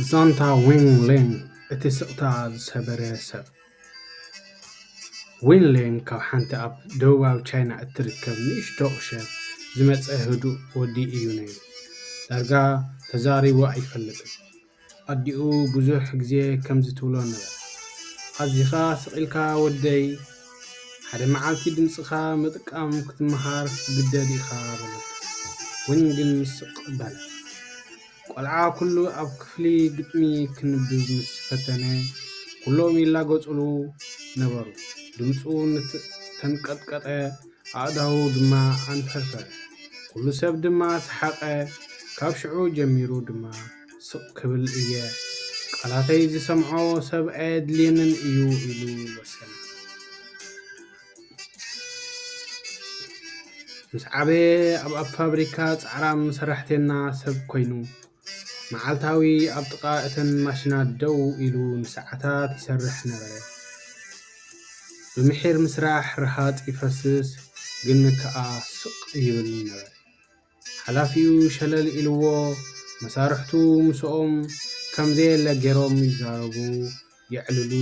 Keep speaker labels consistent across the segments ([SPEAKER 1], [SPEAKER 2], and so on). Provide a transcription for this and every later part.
[SPEAKER 1] ዛንታ ዊን ሌን እቲ ስቕታ ዝሰበረ ሰብ። ዊን ሌን ካብ ሓንቲ ኣብ ደቡባዊ ቻይና እትርከብ ንእሽቶ ቁሸት ዝመጸ ህዱእ ወዲ እዩ ነይሩ። ዳርጋ ተዛሪቡ ኣይፈልጥን። ኣዲኡ ብዙሕ ግዜ ከምዚ ትብሎ ነበረት፣ ኣዚኻ ስቕ ኢልካ ወደይ ሓደ መዓልቲ ድምጽኻ ምጥቃም ክትመሃር ክትግደድ ኢኻ በለቶ። ዊን ግን ስቕ በለ። ቆልዓ ኩሉ ኣብ ክፍሊ ግጥሚ ክንብብ ምስ ፈተነ ኩሎም ይላገጹሉ ነበሩ። ድምጹ ተንቀጥቀጠ ኣእዳዉ ድማ ኣንፈርፈረ። ኩሉ ሰብ ድማ ሰሓቐ። ካብ ሽዑ ጀሚሩ ድማ። ስቕ ክብል እየ፣ ቃላተይ ዚሰምዖ ሰብ ኣየድልየንን እዩ ኢሉ ወሰነ። ምስ ዓበየ ኣብ ኣብ ፋብሪካ ጻዕራም ሰራሕተና ሰብ ኮይኑ፣ መዓልታዊ ኣብ ጥቓ እተን ማሽናት ደው ኢሉ ንሰዓታት ይሰርሕ ነበረ። ብምሒር ምስራሕ ረሃጽ ይፈስስ፣ ግን ከኣ ስቕ ይብል ነበረ። ሓላፊኡ ሸለል ኢልዎ መሳርሕቱ ምስኦም ከም ዘየለ ገይሮም ይዛረቡ፣ የዕልሉ፣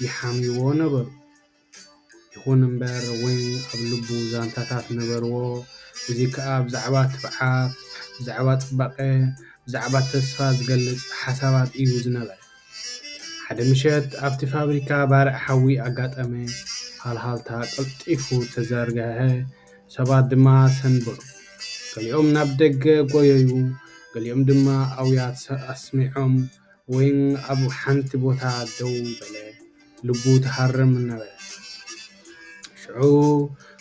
[SPEAKER 1] ይሓምይዎ ነበሩ። ይኹን እምበር ወይን ኣብ ልቡ ዛንታታት ነበርዎ፣ እዚ ከኣ ብዛዕባ ትብዓት፣ ብዛዕባ ጽባቐ፣ ብዛዕባ ተስፋ ዝገልጽ ሓሳባት እዩ ዝነበረ። ሓደ ምሸት ኣብቲ ፋብሪካ ባርዕ ሓዊ ኣጋጠመ፣ ሃልሃልታ ቀልጢፉ ተዘርግሐ፣ ሰባት ድማ ሰንበዱ። ገሊኦም ናብ ደገ ጐየዩ፣ ገሊኦም ድማ ኣውያት ኣስሚዖም። ወይን ኣብ ሓንቲ ቦታ ደው በለ፣ ልቡ ትሃርም ነበረት። ሽዑ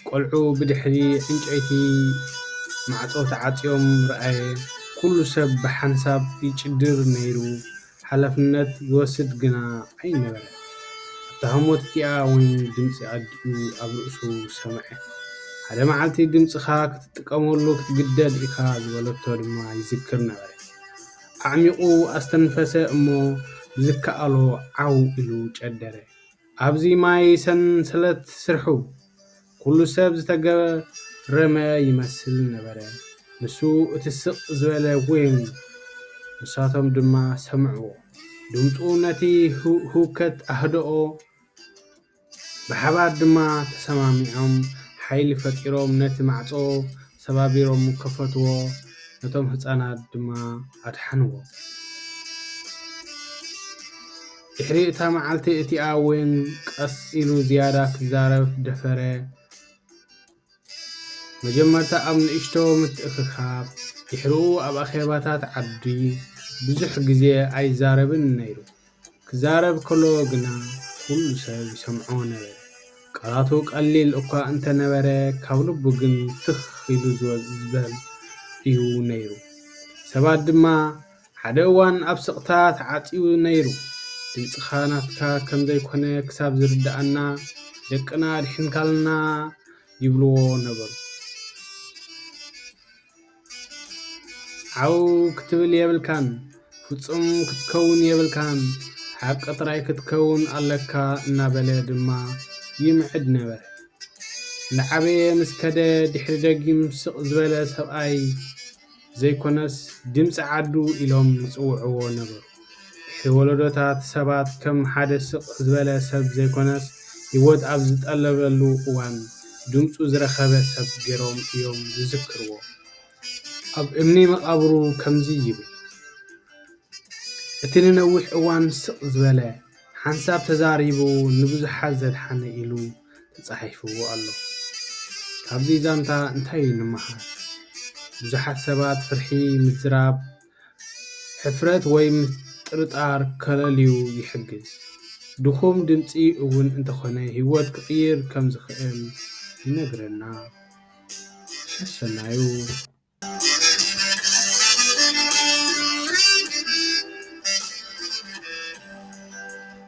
[SPEAKER 1] ቆልዑ ብድሕሪ ዕንጨይቲ ማዕጾ ተዓጽዮም ረኣየ፣ ኩሉ ሰብ ብሓንሳብ ይጭድር ነይሩ። ሓላፍነት ዝወስድ ግና ኣይነበረን። ኣብታ ህሞት እቲኣ እውን ድምጺ ኣዲኡ ኣብ ርእሱ ሰምዐ። ሓደ መዓልቲ ድምጽኻ ክትጥቀመሉ ክትግደድ ኢኻ ዝበለቶ ድማ ይዝክር ነበረ። ኣዕሚቝ ኣስተንፈሰ እሞ ብዝከኣሎ ዓው ኢሉ ጨደረ። ኣብዚ ማይ ሰንሰለት ስርሑ! ኩሉ ሰብ ዝተገረመ ይመስል ነበረ፣ ንሱ እቲ ስቕ ዝበለ ዊንግ፣ ንሳቶም ድማ ሰምዕዎ። ድምጹ ነቲ ህውከት ኣህደኦ፣ ብሓባር ድማ ተሰማሚዖም ሓይሊ ፈጢሮም ነቲ ማዕጾ ሰባቢሮም ከፈትዎ፣ ነቶም ህጻናት ድማ ኣድሓንዎም። ድሕሪ እታ መዓልቲ እቲኣ እውን ቀስ ኢሉ ዝያዳ ክዛረብ ደፈረ። መጀመርታ ኣብ ንእሽቶ ምትእኽኻብ፣ ድሕሪኡ ኣብ ኣኼባታት ዓዲ ብዙሕ ግዜ ኣይዛረብን ነይሩ። ክዛረብ ከሎ ግና ኵሉ ሰብ ይሰምዖ ነበረ። ቃላቱ ቀሊል እኳ እንተ ነበረ፣ ካብ ልቡ ግን ትኽ ኢሉ ዝበል እዩ ነይሩ። ሰባት ድማ ሓደ እዋን ኣብ ስቕታ ተዓጽዩ ነይሩ። ድምጽኻ ናትካ ከም ዘይኰነ ክሳብ ዝርድኣና፣ ደቅና ኣድሒንካልና ይብልዎ ነበሩ። ዓው ክትብል የብልካን፣ ፍጹም ክትከውን የብልካን፣ ሓቂ ጥራይ ክትከውን ኣለካ እናበለ ድማ ይምዕድ ነበረ። እናዓበየ ምስ ከደ ድሕሪ ደጊም ስቕ ዝበለ ሰብኣይ ዘይኮነስ ድምጺ ዓዱ ኢሎም ዝጽውዕዎ ነበሩ። ድሕሪ ወለዶታት ሰባት ከም ሓደ ስቕ ዝበለ ሰብ ዘይኮነስ ህይወት ኣብ ዝጠለበሉ እዋን ድምጹ ዝረኸበ ሰብ ገይሮም እዮም ዝዝክርዎ። ኣብ እምኒ መቓብሩ ከምዚ ይብል፣ እቲ ንነዊሕ እዋን ስቕ ዝበለ፣ ሓንሳብ ተዛሪቡ ንብዙሓት ዘድሓነ ኢሉ ተጻሒፍዎ ኣሎ። ካብዚ ዛንታ እንታይ ንምሃር? ብዙሓት ሰባት ፍርሒ ምዝራብ ሕፍረት ወይ ምጥርጣር ከለልዩ ይሕግዝ። ድኹም ድምጺ እውን እንተኾነ ህይወት ክቕይር ከም ዝኽእል ይነግረና። ሰሰናዩ!